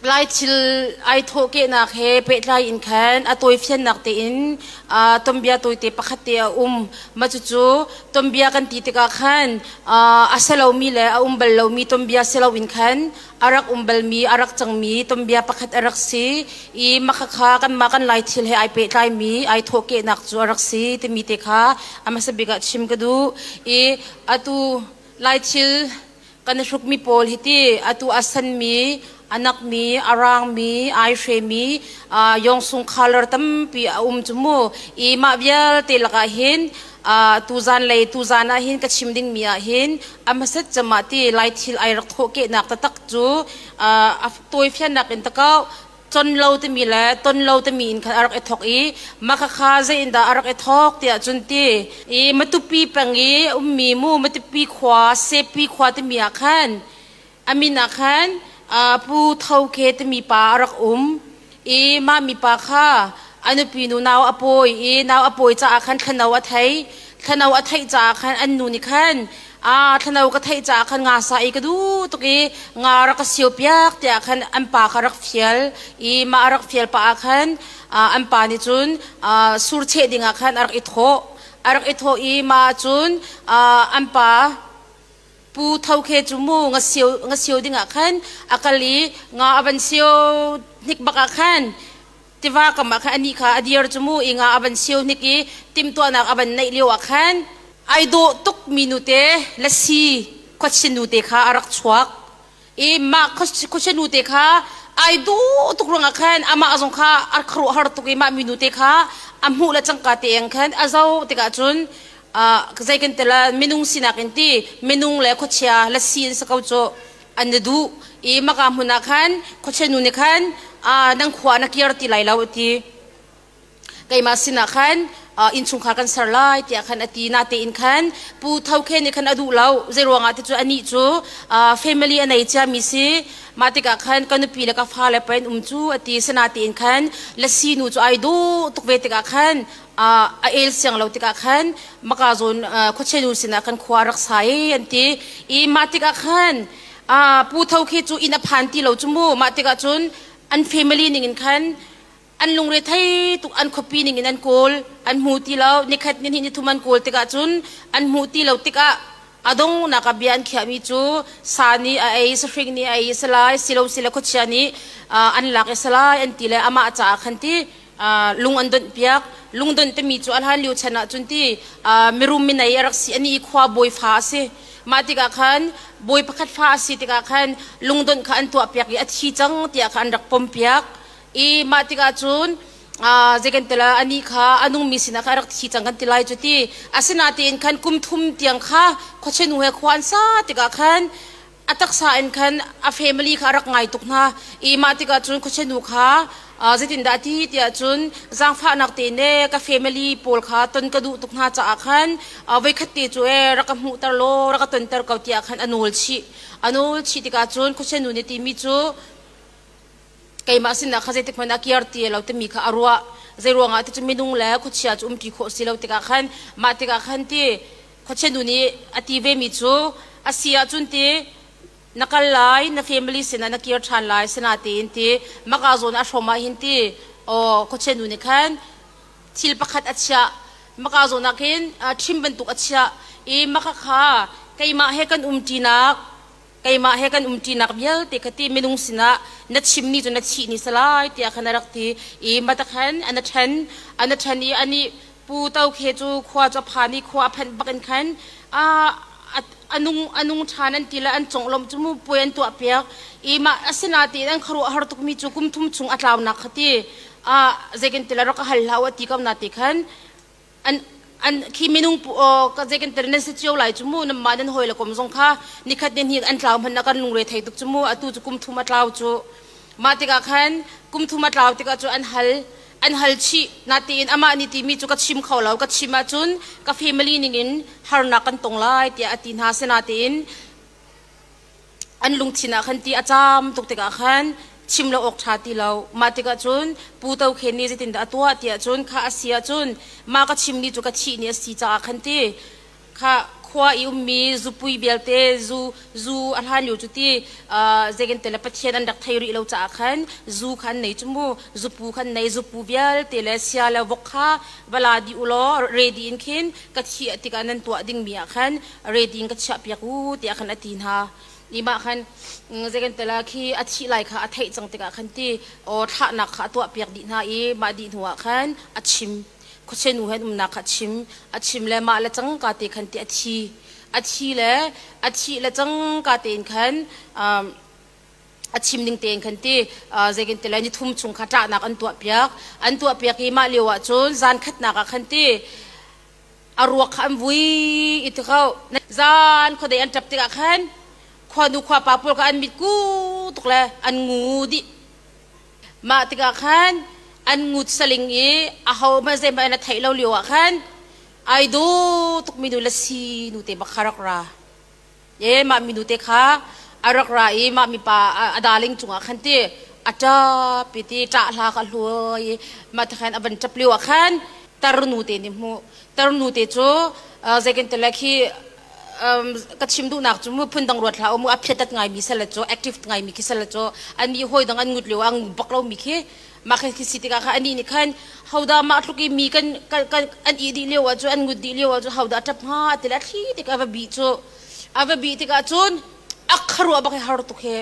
Lai thil ai thawhkehnak he pehtlai in khan a tawifiannak tein tonbia tawite pakhat te a um. Mah cucu tonbia kan ti tikah khan a si lomi le a um bal lomi tonbia si loin khan a rak um balmi, a rak cangmi tonbia pakhat a rak si i makhakha kanmah kan Lai thil he ai pehtlaimi ai thawhkehnak cu a rak si timi te kha a hmasa bik ah chim ka duh i atu Lai thil Kan hrukmi pawl hiti atu a sanmi, a nakmi, a raangmi, ai hremi yawng sung khalar tampi a um cu mu. I mah vialte lakah hin tuzaan lei tuzaan ah hin ka chim dingmi ah hin a hmasat camah ti laithil ai rak thawhkehnak taktak cu a tawifiannak in takau Con lo timi le ton lo timi in khan a rak i thawk i makhakha zeiindah a rak i thawk tiah cun ti i Matupi peng i ummi mu Matupi khua Sepi khua timi ah khan a min ah khan Pu Tho Ke timi pa a rak um i mah mipa kha a nupi nu nau a pawi i nau a pawi caah khan thlano a thei thlano a theih caah khan an nu nih khan a thlano ka theih caah khan nga sa i ka duh tuk i nga rak ka sio piak tiah khan an pa kha rak fial i mah rak fial pah ah khan an pa nih cun sur cheh ding ah khan a rak i thawh a rak i thawh i mah cun an pa pu tho khe cu mu nga sio nga sio ding ah khan a kal i nga a van sio hnik bak ah khan tiva kam ah khan anih kha a dir cu mu ing ah a van siu hnik i timhtuahnak a van neih lio ah khan ai dawh tukmi nute lasi khuachin nute kha a rak chuak i mah khuachin nute kha ai duh tuk ruangah khan amah zong kha a khuaruah har tuk i mah mi nute kha a hmuh le cangka te ang khan a zo tikah cun zei kan tila minung sinak in ti minung le khuachia lasi in sa ko cu an na duh i maka hmun ah khan khuachenu nih khan nan khua na kir ti lai lo a ti keimah sinah khan innchungkhar kan ser lai tiah khan a ti natein khan pu tho khe nih khan a duh lo zei ruangah ti cu anih cu family a nei ciami si mah tikah khan ka nupi le ka fa le pa in um cu a ti sinatein khan lasi nu cu ai dawh tuk ve tikah khan a el siang lo tikah khan maka zawn khuachenu sinah kan khua rak sa i an ti i mah tikah khan pu tho khi cu inn a phan ti lo cu mu mah tikah cun an family ningin khan an lungre thei tuk an khuapi ningin an kawl an hmu ti lo nikhat ni ni thum an kawl tikah cun an hmu ti lo tikah a dong naka bia an khiahmi cu sa ni a ei sahring ni a ei salai silo sila khuachia nih an lak i salai an ti le amah caah khan ti lung an donh piak lungdonh timi cu a hlan lio chan ahcun ti mirum minei a rak si ani i khua bawi fa a si mah tikah khan bawi pakhat fa a si tikah khan lungdonh kha an tuah piak i a thi cang tiah kha an rak pom piak i mah tikah cun zei kan tila ani kha a nungmi sinah kha a rak thi cang kan ti lai cu ti asinatein khan kum thum tiang kha khuachinu he khua an sa tikah khan a taksa in khan a family kha a rak ngai tuk hna i mah tikah cun khuachinu kha zeitindah ti tiah cun zaangfahnak te ne ka family pawl kha ton ka duh tuk hna caah khan voikhat te cu ee rak ka hmuhter law rak ka tonter ko tiah khan a nawl chih a nawl chih tikah cun khuachinu nih timi cu keimah sinah kha zeitik hmanh ah kiar ti lo timi kha a ruah zei ruangah ti cu minung le khuachia cu umpi khawh si lo tikah khan mah tikah khan ti khuachianu nih a ti vemi cu a si ahcun ti na kal lai na family sinah na kir ṭhan lai sana tiin ti maka zawn a hrom ah hin ti aw khuachianu nih khan thil pakhat a chiah maka zawn ah khin trim bantuk a chiah i maka kha keimah he kan umṭinak keimah he kan umṭinak vialte kha ti minung sinah na chimmi cu na chih ni salai tiah khan a rak ti i mata khan an a ṭhen an a ṭhen i anih pu tokhe cu khua cu a phan i khua a phanh bakin khan a a nung a nung ṭhan an ti le an conglawmh cu puai an tuah piak i mah asinatiin an khuaruahhar tukmi cu kum thum chung a tlaunak kha ti a zei kan ti le rak a hal hlah u a ti ko na ti khan an an khi minung zei kan tar nan se cio lai chu mu nam ma nan hoi la kom zong kha nikhat ni hi an tlau man na kan lungre thei tuk chu mu atu chu kum thuma tlau chu ma tikah khan kum thuma tlau tikah chu an hal an hal chi na tiin ama ni ti mi chu ka chim kho lo ka chim a chun ka family ning in harnak kan tong lai tia ati na sena tiin an lungthin ah khan ti a caam tuk tikah khan chim lo awk ṭha ti lo. Mah tikah cun Pu To Khen nih zeitindah a tuah tiah cun khah a si ahcun mah ka chimmi cu ka thih ni a si caah khan ti kha khua i ummi zupui vialte zu zu a hlan lio cu ti zegente le pathian an rak thei rih lo caah khan zu kha an nei cu mu zupu kha an nei zupu vialte le sia le vok kha va la dih u law ready in khin ka thih tikah nan tuah dingmi ah khan reti in ka chiah piak u tiah khan a ti hna ni mah khan zekan tala khi a thi lai kha a theih cang tikah khan ti o thlahnak kha a tuah piak dih hna i mah dih hnu ah khan a chim khuachenu he umnak kha a chim a chim le mah le cang ka te khan ti a thi a thi le a thi le cang ka tein khan a chim ning tein khan ti zeikin tila ni thum chung kha ṭahnak an tuah piak an tuah piak i mah lio ah cun zan khatnak ah khan ti a ruak kha an vui i ti ko zan khuadei an ṭap tikah khan khuanu khuapa pawl kha an mit ku tuk le an ngu dih mah tikah khan an ngut saling i ahohmanh zeihmanh an theih lo lioah khan ai daw tukmi nu le si nu te bak kha rak ra Ye mah minu te kha a rak ra i mah mipa a darling cungah khan ti a ṭap i ti ṭah hla kha a hlu i mah ti khan a van ṭap lio ah khan tarnu te nih hmuh tarnu te cu zeikantile khi ka chim duhnak cu mu phun dang ruat hlah u mu a phiatat ngaimi salle cu active ngaimi khi salle cu an nih hawi dang an ngut lio ah an ngut bak lomi khi mah kan si tikah kha anih nih khan hodah mah tluk i mi kan kan an ih dih lio ah cu an ngut dih lio ah cu hodah ṭap hnga ti le thli tik a va bih cu a va bih tikah cun a kharuah bak i har tuk he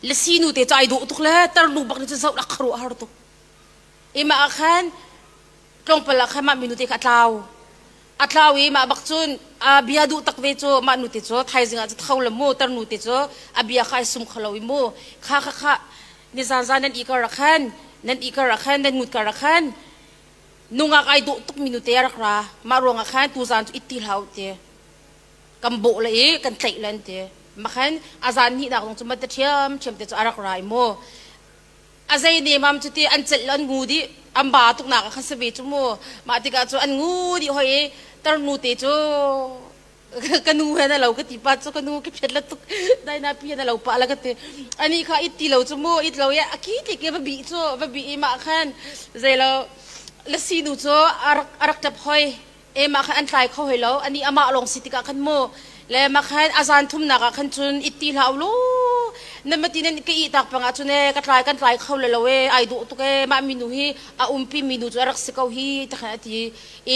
le sinu te cu ai dawh tuk le tarlu bak nih cun zoh a kharuah har tuk imah ah khan tlawngpal ah khan mah minu te kha a tlau A tlau i mah bak cun a bia duh tak ve cu mah nu te cu thaizing ah cu tho la mu tarnu te cu a bia kha ai sum kho lo i mu kha kha kha nizan zan nan i kar ah khan nan i kar ah khan nan ngut kar ah khan nungak ai duh tuk mi nu te rak ra mah ruangah khan tu zan cu it ti hlau te kan bawh le i kan tlaih len te makhan a zan hnih nak zong cu ma ta ṭhiam ṭhiam te cu a rak ra i mu a zei nemam cu ti an celh an ngu dih an ba tuknak ah kha si ve cu mu mah tikah cu an ngu dih hoi i tarnu te cu ka nu he na lo ka ti pa cu ka nu ka phiat la tuk dai na pi na lo pa la ka ti ani kha it ti lo cu mu it lo ye a ki ti ke va bi cu va bi i mah khan zei lo la sinu cu a rak a rak tap hoi e mah khan an tlai kho hoi lo ani amah lawng si tikah khan mu le mah khan azan thumnak ah khan cun it ti hlah ulu nan mati nan ka ih tak pangah cun e ka tlai kan tlai kho le lo e ai duh tuk e mah minu hi a umpi minu cu a rak si ko hi ta khan ati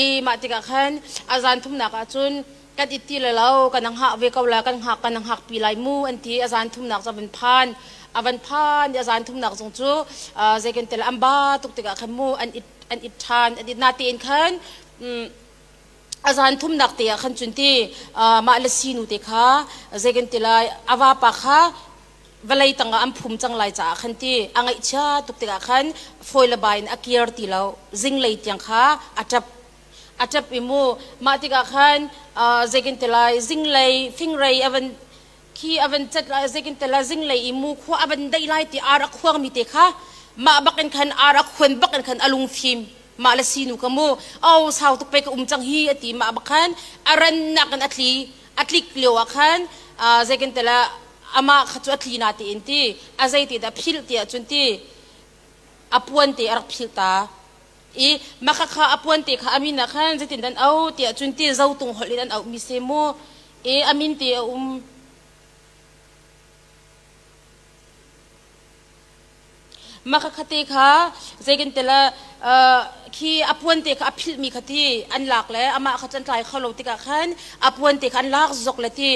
i mah tikah khan azan thumnak ah cun kan it ti le lo kan ang hak ve ko la kan hak kan ang hak pi lai mu anti azan thumnak cu van phan avan phan i azan thumnak zong cu zeiken tel amba tuk tikah khan mu an it an it ṭhan an it na tein khan a zan thumnak te ah khan cun ti mah le sinu te kha zei kan ti lai a vapa kha vawlei tangah an phum cang lai caah khan ti a ngaihchia tuk tikah khan foi le bai in a kir ti lo zinglei tiang kha a ṭap a ṭap i mu mah tikah khan zei kan ti lai zinglei fingrei a van khi a van cat lai zekintel a zinglei i mu khua a van daih lai ti ar a khuangmi te kha mah bakin khan ar a khuan bakin khan a lungfim mah le sinu ka mu o sau tuk pe ka um cang hi ati mah bakhan a rannak in a thli a tlik lio ah khan zekintel amah kha cu a thli na ti in ti a zeiti dah philh ti ahcun ti a puan te a rak philh ta i maka kha a puan te kha a min ah khan zeitin dan au tiah cun ti zo tung holh in an auh mi si mu i a min ti a um maka khate kha zeiken tela khi a puan te kha a philh mi khati an lak le amah kha can tlai kholo tikah khan a puan te kha an lak zok le ti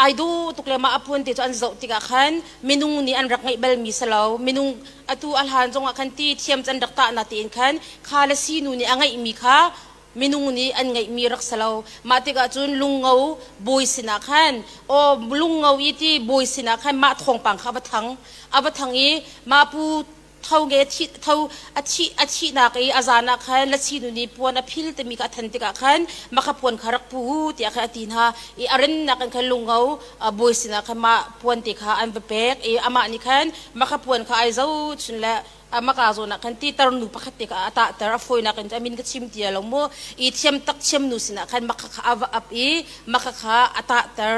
ai du tuk le ma a puan te cu an zoh tikah khan minung nih an rak ngeih bal mi salo minung atu a hlan zongah khan ti thiam can rak tah na tiin khan kha le sinu nih a ngeihmi kha minung nih an ngeihmi rak si lo mah tikah cun lungo bawi sinah khan aw lungo i ti bawi sinah khan mah thawngpang kha va thang a va thang i mah pu tho nge thi tho a thi a thihnak i a zan ah khan lasinu nih puan a phil timi kha a than tikah khan makha puan kha rak pu tiah khan a ti hna i a rennak in khan lungo a bawi sinah khan mah puan ti kha an va pek i amah nih khan makha puan kha ai zohchun le amaka zawn ah khan titar nu pakhat te kha a tahter a fawinak in a min ka chim tia lo mu i thiam tak thiam nu sinah khan makha kha a va ap i makha kha a tahter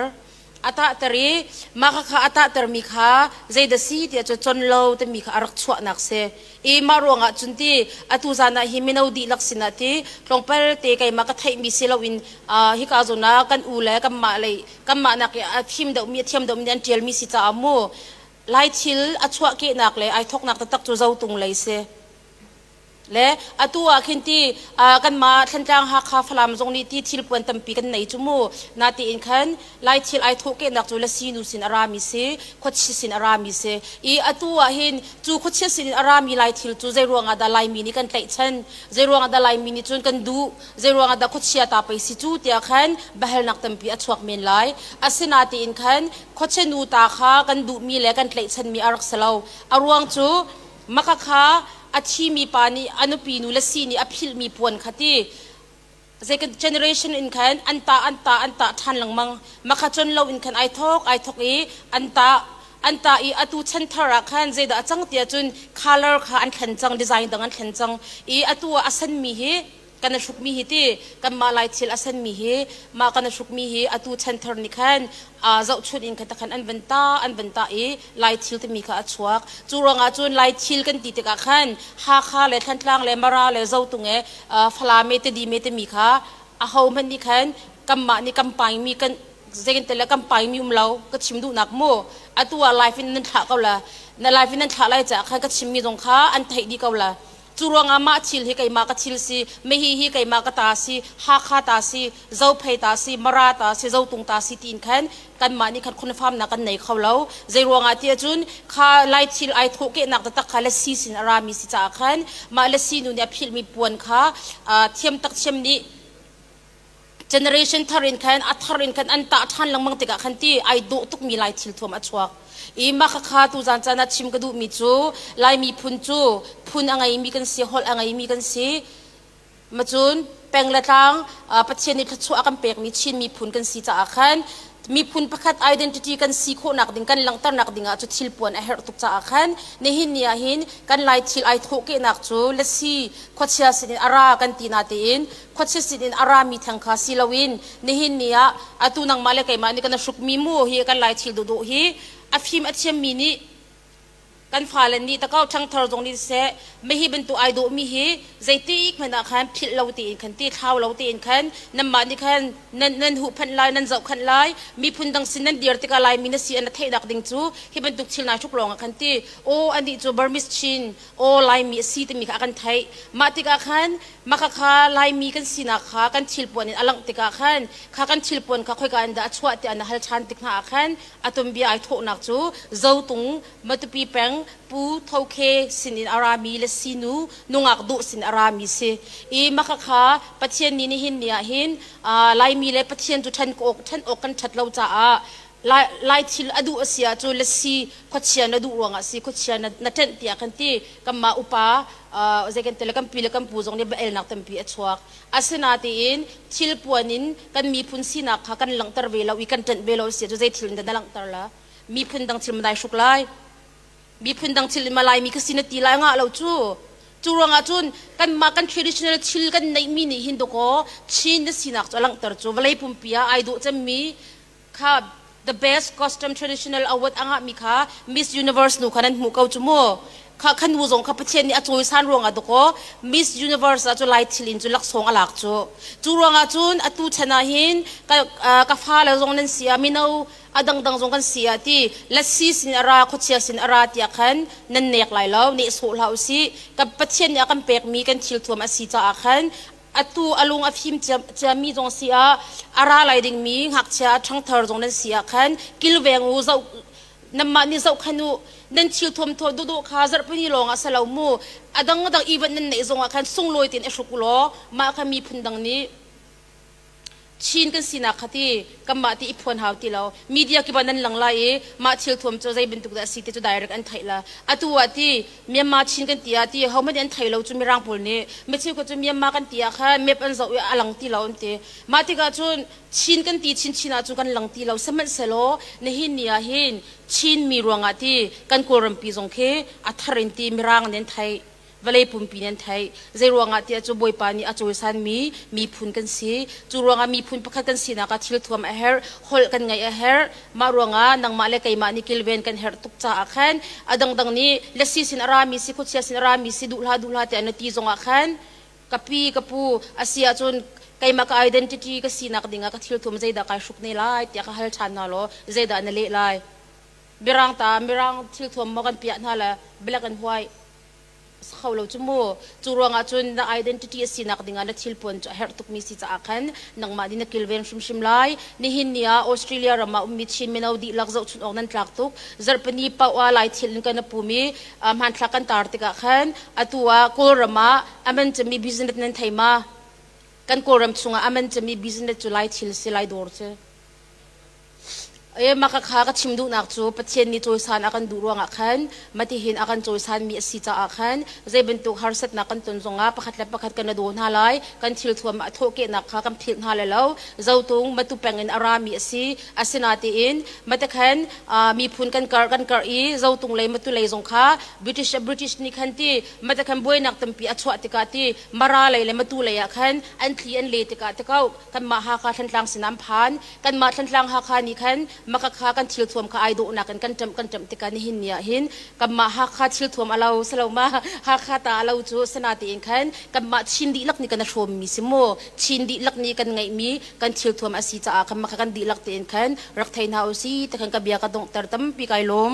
a tahter i makha kha a tahter mi kha zeidah si tiah cu con lo timi kha a rak chuahnak si i mah ruangah cun ti atu zan ah hi mino dihlak sinah ti tlawngpal te keimah ka theihmi si loin hika zawn ah kan u le kanmah lei kanmah nak i a thim deuhmi a thiam deuhmi an ṭialmi si caah mu lai thil a chuahkehnak le ai thoknak taktak cu zotung lei si le atu ah khin ti kanmah thlantlang hakha falam zong nih ti thil puan tampi kan nei cu mu na tiin khan Lai thil ai thawhkehnak cu lasinu sin a rami si, khuachia sin a rami si i atu ahhin cu khuachia sin in a rami lai thil cu zei ruangah dah Laimi nih kan tlaihchan, zei ruangah dah Laimi nih cun kan duh, zei ruangah dah khuachia ta pei si cu tiah khan biahalnak tampi a chuak men lai. Asinain khan khuachia nu ta kha kan duhmi le kan tlaihchanmi a rak si lo. A ruang cu maka kha a thimi pa nih a nupi nu le si nih a philhmi puan kha ti Zeik generation in khan an ta an ta an ta ṭhan lengmang. Makhacon lo in khan ai thawk ai thawk i an ta an ta i atu chan thar ah khan zeidah a cang tiah cun color kha an thlen cang design dang an thlen cang i atu ah a sanmi hi kan a hrukmi hi ti kanmah lai thil a sanmi hi mah kan a hrukmi hi atu chan thar nih khan aa zohchunh in kha takhan an van ta an van ta i lai thil timi kha a chuak cu ruangah cun lai thil kan ti tikah khan Hakha le Thantlang le Mara le Zotung e Falame te Dime temi kha ahohmanh nih khan kanmah nih kan paingmi kan zeitin le kan paingmi um lo ka chim duhnak mu atu ah life in nan thlah ko la na life in nan thlah lai caah khan ka chimmi zong kha an theih dih ko la Cu ruangah mah thil hi keimah ka thil si, mehi hi keimah ka ta si, Hakha ta si, Zophei ta si, Mara ta si, Zotung ta si tiin khan kanmah nih khan khunafaamnak kan nei kho lo. Zei ruangah tiah cun kha lai thil ai thawh kehnak taktak kha lasi sin a rami si caah khan mah lasi nu nih a philhmi puan kha thiam tak thiam nih generation thar in khan a thar in khan an tah ṭhan lengmang tikah khan ti ai dawh tukmi lai thil thuam a chuak i mah khakha tuzan caan ah chim ka duhmi cu lai miphun cu phun a ngeimi kan si holh a ngeimi kan si macun peng le tlang pathian nih thluachuah a kan pekmi chin miphun kan si caah khan miphun pakhat identity kan si khawhnak ding kan langhternak dingah cu thil puan a herh tuk caah khan nihin ni ahhin kan lai thil ai thawhkehnak cu lasi khuachia sinin a ra kan ti natein khuachia sin in a rami theng kha si loin nihin ni ah atu nangmah le keimah nih kan i hrukmi mu hi kan lai thil duhduh hi a fim a thiammi nih kan fale nih takao ṭhangthar zong nih seh mei hi bantuk ai dawhmi hi zeitik hmanh ah khan philh lo tein khan ti thlau lo tein khan nanmah nih khan nan nan huhphenh lai nan zohkhenh lai miphun dang sin nan dir tikah lai mi na si an na theihnak ding cu hi bantuk thil nai hruk lawng ah khan ti aw anih cu Burmese Chin aw Laimi a si timi kha a kan theih mah tikah khan Maka kha Laimi kan sinak kha kan thilpuan in a langh tikah khan kha kan thilpuan kha khoika in dah a chuah tiah na hal ṭhan tik hna ah khan a tumbia ai thawhnak cu Zotung, Matupi peng Pu Tho Khe sinin a rami le sinu nungak Duh sin a rami si i maka kha Pathian nih nihin ni ah hin Laimi le Pathian cu ṭhen awk ṭhen awk kan ṭhat lo caah Lai, lai thil a duh a si ahcun le si khuachia na duh ruangah si khuachia na, na ṭenh piak kan ti. Kanmah upa uh, zei kan ti le kan pi le kan pu zong nih elnak tampi a chuak. Asinatiin thilpuan in kan miphun sinak kha kan langhter ve lo i kan ṭenh ve lo a si ahcun zei thil in dah na langhter la? Miphun dang thil ma dai hruk lai? Miphun dang thil in ma Laimi ka si na ti lai ngah lo cu? Cu ruangah cun kanmah kan traditional thil kan neihmi nih hin dawkaw Chin na sinak cu a langhter cu vawlei pumpi ah ai dawh cemmi kha the best custom traditional award angahmi kha Miss Universe nu kha nan hmu ko cu mu kha khan nu zong kha Pathian nih a cawisan ruangah dakaw Miss Universe ah cu lai thil in cu laksawng a lak cu cu ruangah cun atu chan ah hin ka ka fa le zong nan si a mino a dangdang zong kan si a ti lasi sin a ra khuachia sin a ra tiah khan nan nek lai lo ne sawh hlah u si ka Pathian nih a kan pekmi kan thil thuam a si caah khan atu a lung a fim ciami zong si ah a ra lai dingmi ngakchia ṭhangthar zong nan si ah khan kilveng u zoh nanmah nih zoh khan u nan thil thuamthaw dawhdawh kha zarhpini lawng ah sa lo mu a dang dang ivan nan neih zong ah khan sunglawi tein i hruk law mah kha miphun dang nih Chin kan sinak kha ti kanmah ti i phuan hau ti lo media kiban nan lang lai i mah thil thuam cu zei bantuk dah a si ti cu direct an theih la atu ah ti Myanmar Chin kan ti ah ti hohmanh an thei lo cu mirang pawl nih micheu cu Myanmar kan ti ah kha map an zoh i a lang ti lo an ti mah tikah cun Chin kan ti chinchin ah cu kan lang ti lo sihmanhsehlaw nihin ni ah hin Chin mi ruangah ti kan kawlrampi zong khi a thar in ti mirang nih an theih vawlei pumpi nih an theih. Zeiruangah tiah cu Bawipa nih a cawisanmi miphun kan si. Cu ruangah miphun pakhat kan sinak ah thil thuam a herh, holh kan ngaih a herh. Mah ruangah nangmah le keimah nih kilven kan herh tuk caah khan a dangdang nih lasi sin a rami si, khuachia sin a rami si, duh hlah duh hlah tiah na ti zongah khan ka pi, ka pu a si ahcun keimah ka identity ka sinak dingah ka thil thuam zeidah kai hruk ne lai tiah ka hal ṭhan hna law zeidah na leh lai? Mirang ta, Mirang thil thuam maw kan piah hna le black and white? si kho lo cu mu cu ruangah cun na identity a sinak dingah na thil puan cu a herh tukmi si caah khan nangmah nih na kilven hrimhrim lai nihin ni ah Australia ram ah ummi Chin mino dihlak zohchunh awk nan tlak tuk zarhpini paoha lai thil in kan na pum i hmanthlak kan tar tikah khan atu ah Kawlram ah aman cami business nan thei ma kan Kawlram chungah aman cami business cu lai thil si lai dawr cu Makakha ka chim duhnak cu Pathian nih cawisan a kan duh ruangah khan matihin a kan cawisanmi a si caah khan zei bantuk harsatnak kan ton zongah pakhat le pakhat kan i daw hna lai. Kan thilthuam a thawhkehnak kha kan philh hna le lo. Zotung matu pengin a rami a si. Asinatiin matakhan miphun kan karh kan karh i Zotung lei matu lei zong kha British British nih khan ti matakhan buainak tampi a chuah tikah ti Mara lei le matu lei ah khan an thli an le tikah tikau kanmah Hakha Thlantlang sinah an phan. kanmah thlantlang hakha nih khan makakha kan thilthuam kha ai dawhnak in kan ṭamh kan ṭamh tikah nihin ni ah hin kanmah hakha thilthuam a lo saloma hakha ta a lo cu sana tein khan kanmah chin dihlak nih kan a hrawmmi si mu chin dihlak nih kan ngeihmi kan thilthuam a si caah kanmah kha kan dihlak tein khan rak thei hna u si ti khan ka bia ka donghter tampi kai lawm